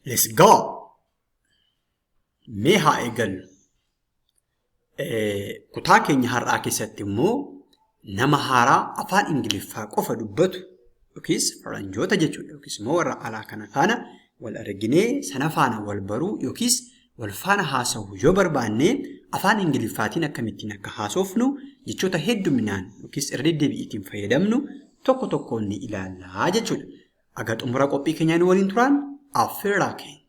Let's go! Mee haa eegallu. Kutaa keenya har'aa keessatti immoo nama haaraa afaan Ingiliffaa qofa dubbatu yookiis faranjoota jechuudha yookiis immoo warra alaa kana faana wal arginee sana faana wal baruu yookiis wal faana haasa'u yoo barbaanne afaan Ingiliffaatiin akkamittiin akka haasofnu jechoota hedduminaan yookiis irra deddeebi'iitiin fayyadamnu tokko tokkoon ni ilaallaa jechuudha. Aga xumura qophii keenyaa nu waliin turaan affeerraa keenya.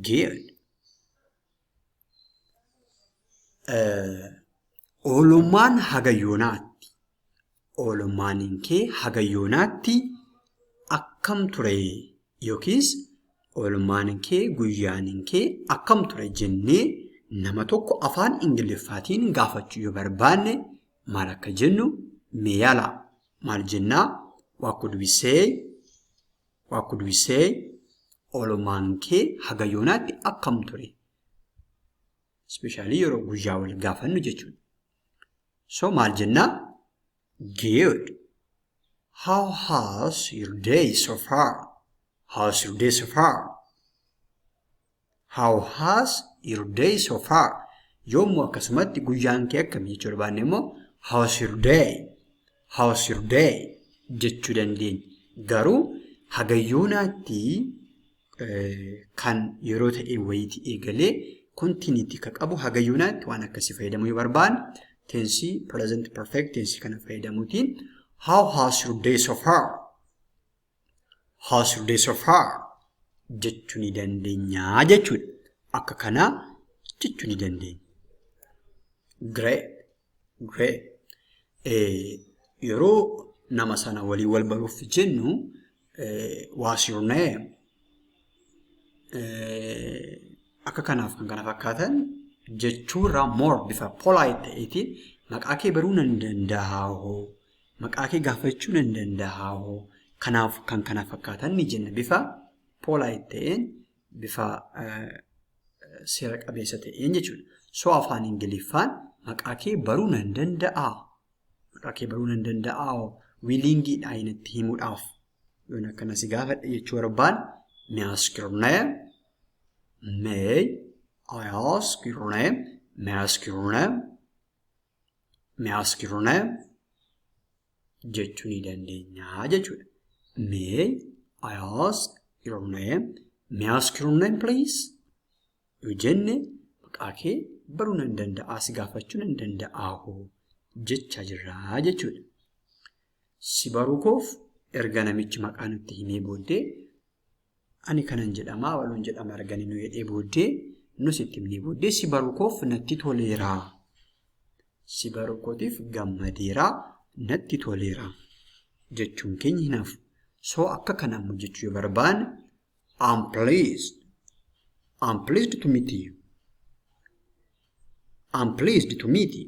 Geed. Oolummaan haga yoonaatti. Oolummaan kee haga yoonaatti akkam ture yookiis oolummaan kee guyyaan kee akkam ture jennee nama tokko afaan Ingiliffaatiin gaafachuu yoo barbaanne maal akka jennu mee yaalaa. maal jennaa what could we say what could we say oolmaan kee haga yoonaatti akkam ture ispeeshaalii yeroo guyyaa wal gaafannu jechuudha so maal jennaa good how has your day so far how's your day so far How has your day so far? Yoo immoo akkasumatti guyyaan kee akkami jechuu barbaanne immoo how's your day? How's your day? jechuu dandeenya. Garuu hagayyoonaatti kan yeroo ta'e wayiiti eegalee kontiiniitti kan qabu hagayyoonaatti waan akkasii fayyadamuu yoo barbaanne teensii present perfect teensii kana fayyadamuutiin how has your day so far? Has this of her jechuu ni dandeenya jechuudha. Akka kanaa jechuu ni dandeenya. Great, great. Eh, yeroo nama sana walii wal baruuf jennu eh, what's your name? Eh, akka kanaaf kan kana fakkaatan jechuurraa more bifa polite ta'eetiin maqaa kee baruu nan danda'a hoo? Maqaa kee gaafachuu nan danda'aa hoo? Kanaaf kan kana fakkaatan ni jenna. Bifa polite ta'een, bifa seera qabeessa ta'een jechuudha. So afaan Ingiliffaan maqaa kee baruu nan danda'aa? Maqaa kee baruu nan danda'aa hoo? Wiiliingiidha inatti himuudhaaf. Yoon akkana si gaafadhe jechuu barbaan me ask your name? May I ask your name? May I ask your name? Miyaskiruna jechuu ni dandeenya jechuudha. May I ask your name? May I ask your name please? Yoo jenne maqaa kee baruu nan danda'aa si gaafachuu nan danda'aa hoo jechaa jirraa jechuudha. Si baruu koof erga namichi maqaa nutti himee booddee Ani kanan jedhama abaluun jedhama argani nu jedhee booddee nus itti himnee booddee si baruu koof natti toleera. Si baruu kootiif gammadeera natti toleera jechuun keenya hin hafu. So akka kanaan hojjechuu yoo barbaanne I'm pleased. I'm pleased to meet you. I'm pleased to meet you.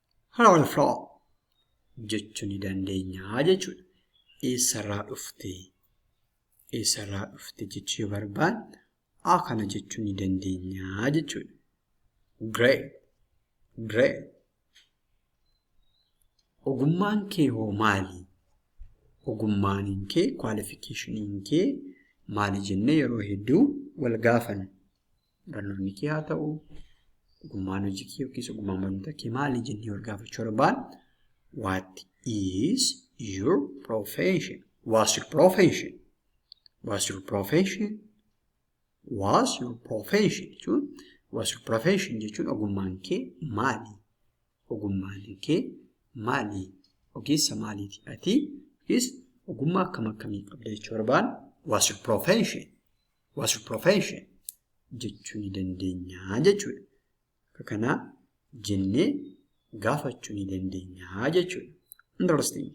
Haroon flow jechuu ni dandeenya jechuudha. Eessarraa dhufte? Eessarraa dhufte jechuu yoo barbaanne a kana jechuu ni dandeenya jechuudha. Great. Great. Ogummaan kee hoo maali? Ogummaan kee, kwaalifikeeshiniin kee maali jennee yeroo hedduu wal gaafanna. barnoonni kee haa ta'u, ogummaan hojii kee yookiis ogummaan barnoota kee maali jennee wal gaafachuu barbaan. What is your profession? What's your profession? What's your profession? What's your profession jechuun what's your profession jechuun ogummaan kee maali? Ogummaan kee maali? Ogeessa maaliiti ati? Yookiis ogummaa akkam akkamii qabda jechuu barbaan? What's your profession? was your profession jechuu ni dandeenya jechuudha. Akka kanaa jennee gaafachuu ni dandeenya jechuudha. Interesting.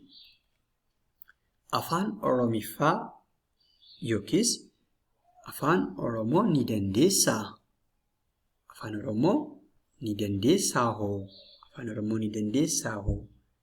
Afaan Oromiffaa yookiis afaan Oromoo ni dandeessaa? Afaan Oromoo ni dandeessaa hoo? Afaan Oromoo ni dandeessaa hoo?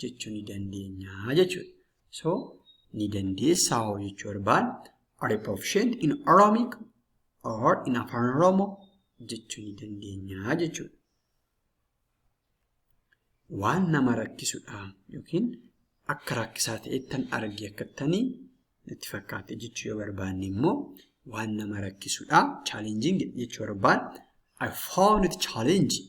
jechuu ni dandeenya jechuudha. So ni dandeessaa hoo jechuu barbaan are you proficient in Oromic or in Afaan Oromoo jechuu ni dandeenya jechuudha. Waan nama rakkisudha yookiin akka rakkisaa ta'ettan arge akkattanii natti fakkaate jechuu yoo barbaanne immoo waan nama rakkisudha challenging jechuu barbaan I found it challenging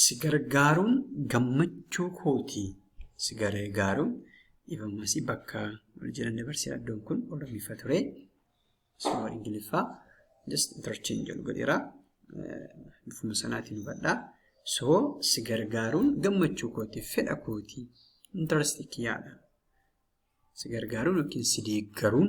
si gargaaruun gammachuu kooti si gargaaruun dhiifamasi bakka wal jiran dabarsi yaaddoon kun oromifa ture suma ingiliffaa just interchange jedhu godheera bifuma sanaatiin hubadhaa so si gargaaruun gammachuu kooti fedha kooti interest kiyyaadha si gargaaruun yookiin si deeggaruun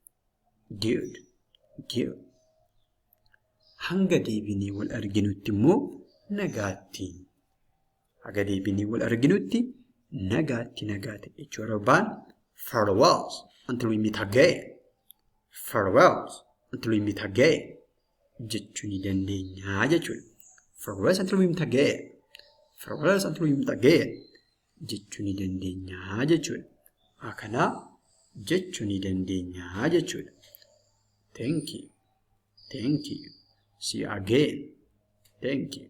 Good. Good. Hanga deebinee wal arginutti immoo nagaatti. Haga deebinee wal arginutti nagaatti nagaatti jechuu barbaan farewells until we meet again. Farewells until we meet again jechuu ni dandeenya jechuudha. Farewells until we meet again. Farewells until we meet again. jechuu ni dandeenyaa jechuudha. Akana jechuu ni dandeenyaa jechuudha. Thank you. Thank you. See you again. Thank you.